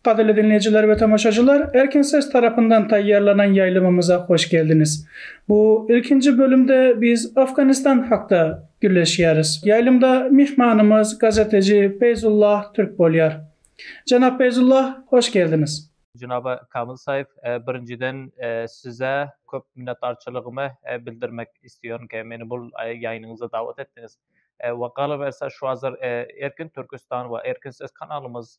Gadyrly diňleýjiler we tomaşaçylar, Erkin ses tarapyndan taýýarlanan ýaýlymymyza hoş geldiňiz. Bu ilkinji bölümde biz Afganistan hakda gürleşýäris. Ýaýlymda myhmanymyz gazeteji Peýzullah Türk bolýar. Jenap Peýzullah, hoş geldiňiz. Jenap Kamyl Saýf, birinjiden size köp minnetdarçylygymy bildirmek isleýärin-ki, meni bul ýaýnyňyza dawat etdiňiz. We galyberse şu hazir Erkin Türkistan we Erkin ses kanalymyz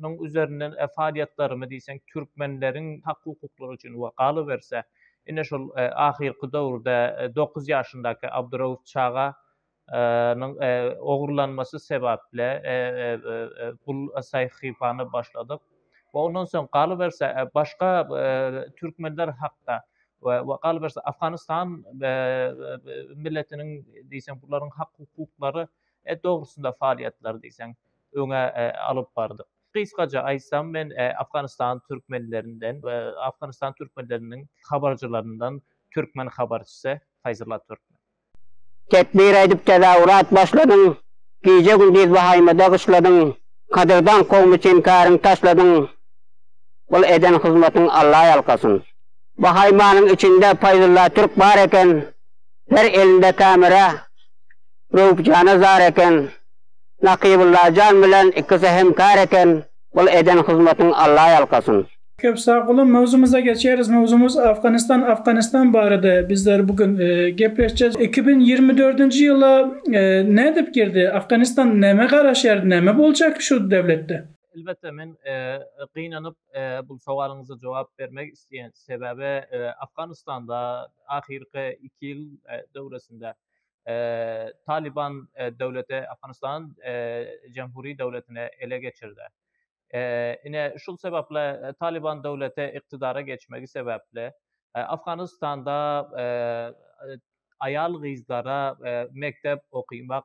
Munuň üzerinden faalýetlerimi diýseň türkmenleriň hak-hukuklary üçin we galyberse, ine şol ahyrky döwürde dokuz ýaşyndaky Abdurauf çaga nyň ogurlanmasy sebäpli bu sahypany başladyk we ondan soň galyberse başga türkmenler hakda we galyberse Afganistan milletiniň diýseň bularyň hak-hukuklary dogrusynda faalýetleri diýseň öňe alyp bardyk. Gysgaça aýtsam, men Afganistan türkmenlerinden we Afganistan türkmenleriniň habarçylaryndan türkmen habarçysy Faýzullah Türkmen. Tekbir aýdyp tezawurat başladyň, Gije-gündiz wahaýmada gyşladyň, Gadyrdan kowum üçin käriň taşladyň, Bul eden hyzmatyň Alla ýalkasyn. Wahaýmanyň içinde Faýzullah Türk bar eken, Her elinde kamera, Röwüp jana zar eken. Nakybulla jan bilen ikisi hem kär eken bul eden hyzmatyň Alla ýalkasyn. Köp sagbolun mowzumyza geçeris mowzumyz Afganistan Afganistan barada bizler bu gün gepleşjez iki müň ýigrimi dördünji ýyla nädip girdi Afganistan näme garaşýar näme boljak şu döwletde. Elbetde men gynanyp bu sowalyňyza jogap bermek isleýän sebäbi Afganistanda ahyrky iki ýyl döwresinde Taliban döwleti Afganystany Jamhuri döwletine ele geçirdi. Ine, şul sebäpli Taliban döwleti ykdydara geçmegi sebäpli, Afganystanda aýal-gyzlara mekdep okymak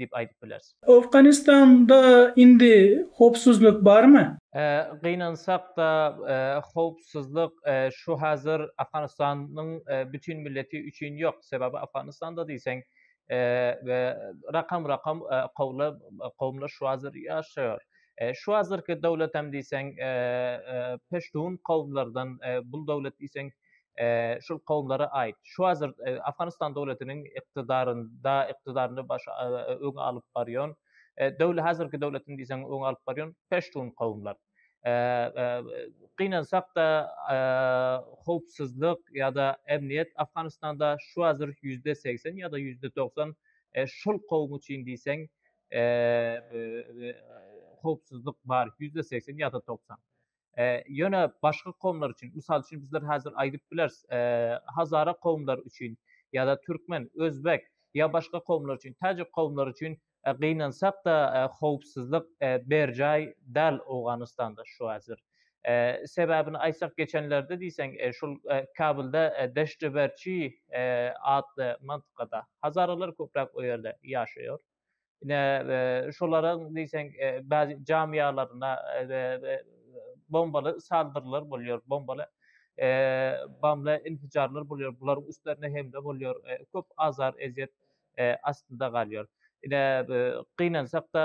diýip aýdyp bileris. Owganystanda indi howpsuzlyk barmy? Gynansak-da, howpsuzlyk şu hazir Afganystanyň bütin milleti üçin ýok. Sebäbi Afganystanda diýseň, rakam-rakam kowumlar şu hazir ýaşaýar. Şu hazirki döwletem diýseň, peştun kowumlardan, bul döwlet diýseň, şul kowumlara aýt. Şu hazir Afganistan döwletiniň ykdydarynda, ykdydarynda baş öňe alyp barýan döwlet hazirki döwletini diýseň öňe alyp barýan peştun kowumlar. Gynansakda howpsuzlyk ýa-da emniýet Afganistanda şu hazir ýüzde segsen ýa-da ýüzde dogsan şul kowum üçin diýseň howpsuzlyk bar ýüzde segsen ýa-da dogsan. E, ýöne başga kowumlar üçin, mysal üçin bizler häzir aýdyp bileris, e, hazara kowumlar üçin ýa-da türkmen, özbek ýa başga kowumlar üçin, täjik kowumlar üçin e, gynansak-da e, howpsuzlyk e, berjaý däl Owganystanda şu häzir. E, sebäbini aýtsak geçenlerde diýseň e, şul e, Kabulda e, Deşdeberçi e, atly mantykada hazaralar köpräk o ýerde ýaşaýar. Ine, şolaryň diýseň bäzi jamyýalaryna bombaly saldyrylar bolýar, bombaly bamly infijarlar bolýar, bularyň üstlerine hemle bolýar, köp azar-ezýet astynda galýar. Ine, gynansak-da,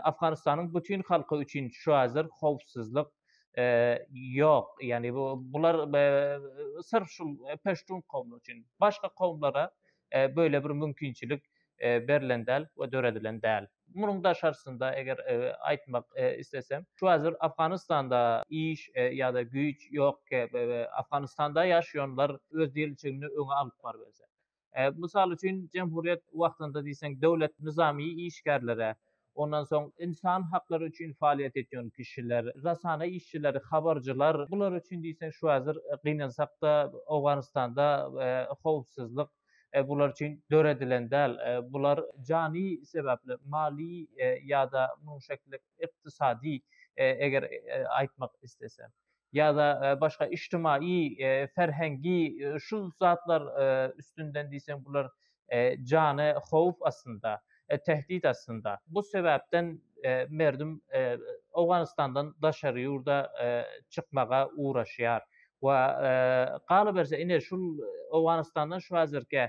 Afganystanyň bütin halky üçin şu hazir howpsuzlyk ýok. Ýagny bu bular syrf şul peştun kowumy üçin. Başga kowumlara beýle bir mümkinçilik berlen däl we döredilen däl. Munuň daşarysynda eger aýtmak islesem, şu hazir Afganistanda iş ýa-da güýç ýokkä, Afganistanda ýaşaýanlar öz diriçigini öňe alyp barberse. Mysal üçin, jemhuryýet wagtynda diýseň döwlet nyzamy işgärlere Ondan soň ynsan haklary üçin faaliýet etýän kişiler, rasana işçileri, habarjylar, bular üçin diýseň şu hazir gynansak-da Owganystanda howpsuzlyk bular üçin döredilen däl. Bular jany sebäpli, mali ýa-da munuň şekilli ykdysady eger aýtmak islesek. ýa-da başga ijtimaýy, ferhengi şu zatlar üstünden diýseň bular jana howp aslynda, tehdit aslynda. Bu sebäpden merdüm Owganystandan daşary ýurda çykmaga ugraşýar we galyberse ine şul Owganystandan şu häzirki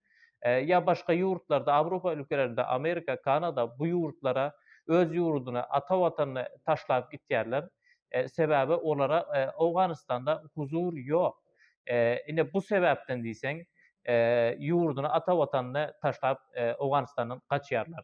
ýa başga ýurtlarda Awropa ülkelerinde Amerika Kanada bu ýurtlara öz ýurdyna ata watanyny taşlap gitýärler sebäbi olara Owganystanda huzur ýok ine bu sebäpden diýseň ýurdyny ata watanyny taşlap Owganystandan gaçýarlar.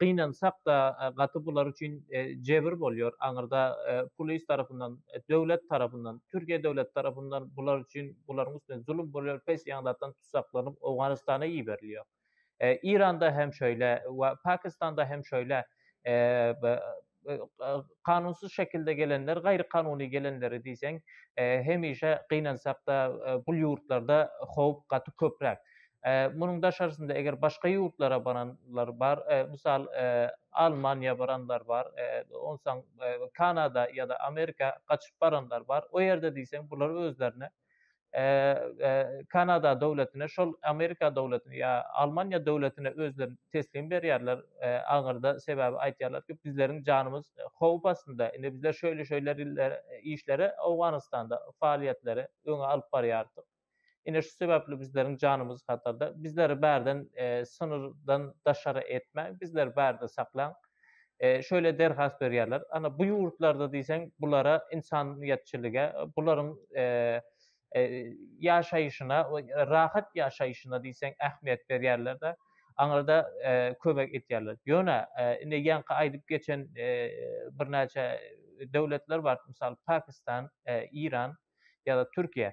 Gynansak-da, gaty bular üçin jebir bolýar. Aňyrda polis tarapyndan, döwlet tarapyndan, Türkiýe döwleti tarapyndan bular üçin, bularyň üstüne zulum bolýar, pes ýaňzatdan tusaklanyp Owganystana iberilýär. Eýranda hem şeýle we Pakistanda hem şeýle. kanunsyz şekilde gelenler, gaýry kanuny gelenleri diýseň, hemişe gynansak-da, bul ýurtlarda howp gaty köpräk. Munuň daşarysynda eger başga ýurtlara baranlar bar, mysal, Almaniýa baranlar bar, onsaň Kanada ýa-da Amerika gaçyp baranlar bar. O ýerde diýseň bular özlerine Kanada döwletine, şol Amerika döwletine ýa Almaniýa döwletine özlerini teslim berýärler aňyrda. Sebäbi aýtýarlar ki, bizleriň janymyz howp astynda. Indi bizler şeýle-şeýle işleri Owganystanda faaliýetleri öňe alyp barýardyk. Ine şu sebäpli bizleriň janymyz hatarda. Bizleri bärden synyrdan daşary etmäň, bizleri bärde saklaň. şöyle derhas berýärler. Ana bu ýurtlarda diýseň bulara ynsanýetçilige, bularyň ýaşaýşyna, rahat ýaşaýşyna diýseň ähmiýet berýärler-de, aňyrda kömek etýärler. Ýöne indi ýaňky aýdyp geçen birnäçe döwletler bar, mysal Pakistan, Iran ýa-da Türkiýe.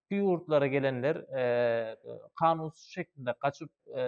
şu ýurtlara gelenler e, kanunsuz şeklinde gaçyp e,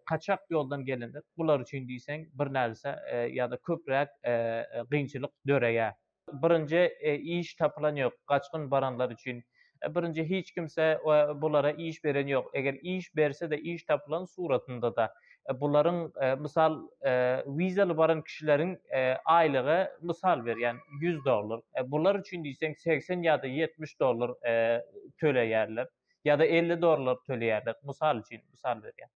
kaçak ýoldan gelenler bular üçin diýseň bir närse e, ýa-da köpräk e, e gynçylyk döreýär. Birinji e, iş tapylan ýok gaçgyn baranlar üçin. E, birinji hiç kimse e, bulara iş beren ýok. Eger iş berse-de iş tapylan suratynda-da e, bularyň e, mysal e, wizaly baran kişileriň e, aýlygy mysal berýän 100 dollar. E, bular üçin diýseň 80 ýa-da 70 dollar e, töleýärler ýa-da 50 dollar töleýärler. Mysal üçin, mysal berýän.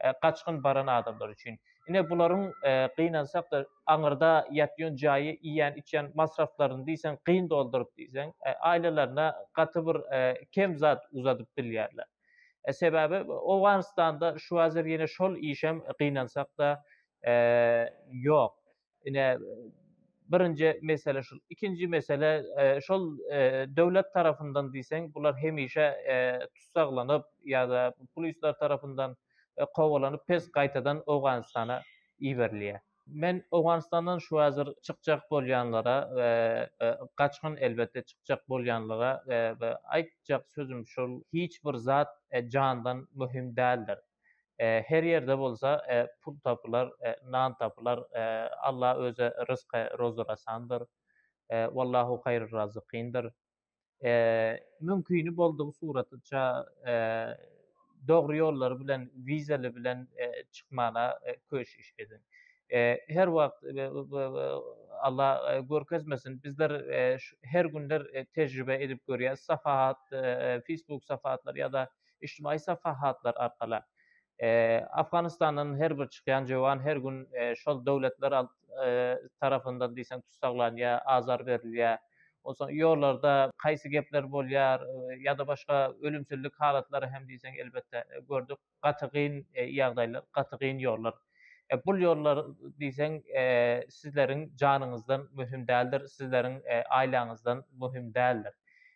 E, gaçgyn baran adamlar üçin. Ine bularyň e, gynansak da aňyrda ýatýan jaýy, iýen, içýän masraflaryny diýseň gyn dolduryp diýseň, e, aýlylaryna gaty bir e, kem zat uzadyp bilýärler. Sebäbi Owganystanda şu wazir ýene şol işem gynansakda ýok. Ine birinji mesele şul. Ikinji mesele şol döwlet tarapyndan diýseň bular hemişe tussaglanyp ýa-da pulistler tarapyndan kowalanyp pes gaýtadan Owganystana iberilýär. Men Owganystandan şu häzir çykjak bolýanlara we gaçgyn elbetde çykjak bolýanlara aýtjak sözüm şul, hiç bir zat jandan möhüm däldir. Her ýerde bolsa pul tapylar, nan tapylar, Alla özi rysky rozurasandyr. Wallahu haýrur razykindir. mümkini boldugy suratyça dogry ýollar bilen wizaly bilen çykmana köşüş ediň. Her wagt Allah görkezmesin bizler her günler tejribe edip görýäs safahat Facebook safahatlar ýa-da içtimai safahatlar arkaly. Afganistandan her bir çykýan jöwan her gün şol döwletler tarapyndan diýseň tussaglanýar, azar berilýär. Onsoň ýollarda haýsy gepler bolýar ýa-da başga ölümsizlik halatlary hem diýseň elbetde gördük. Gaty gyn ýagdaýlar, gaty gyn ýollar. Bul ýollar diýseň sizleriň janyňyzdan möhüm däldir, sizleriň aýlaňyzdan möhüm däldir.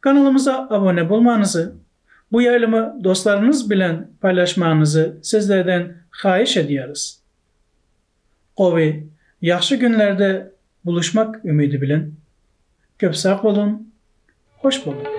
Kanalymyza abone bolmanyzy, bu ýaýlymy dostlaryňyz bilen paýlaşmanyzy sizlerden haýyş edýäris. Gowy, ýagşy günlerde buluşmak ümidi bilen. Köp sag boluň, hoş boluň!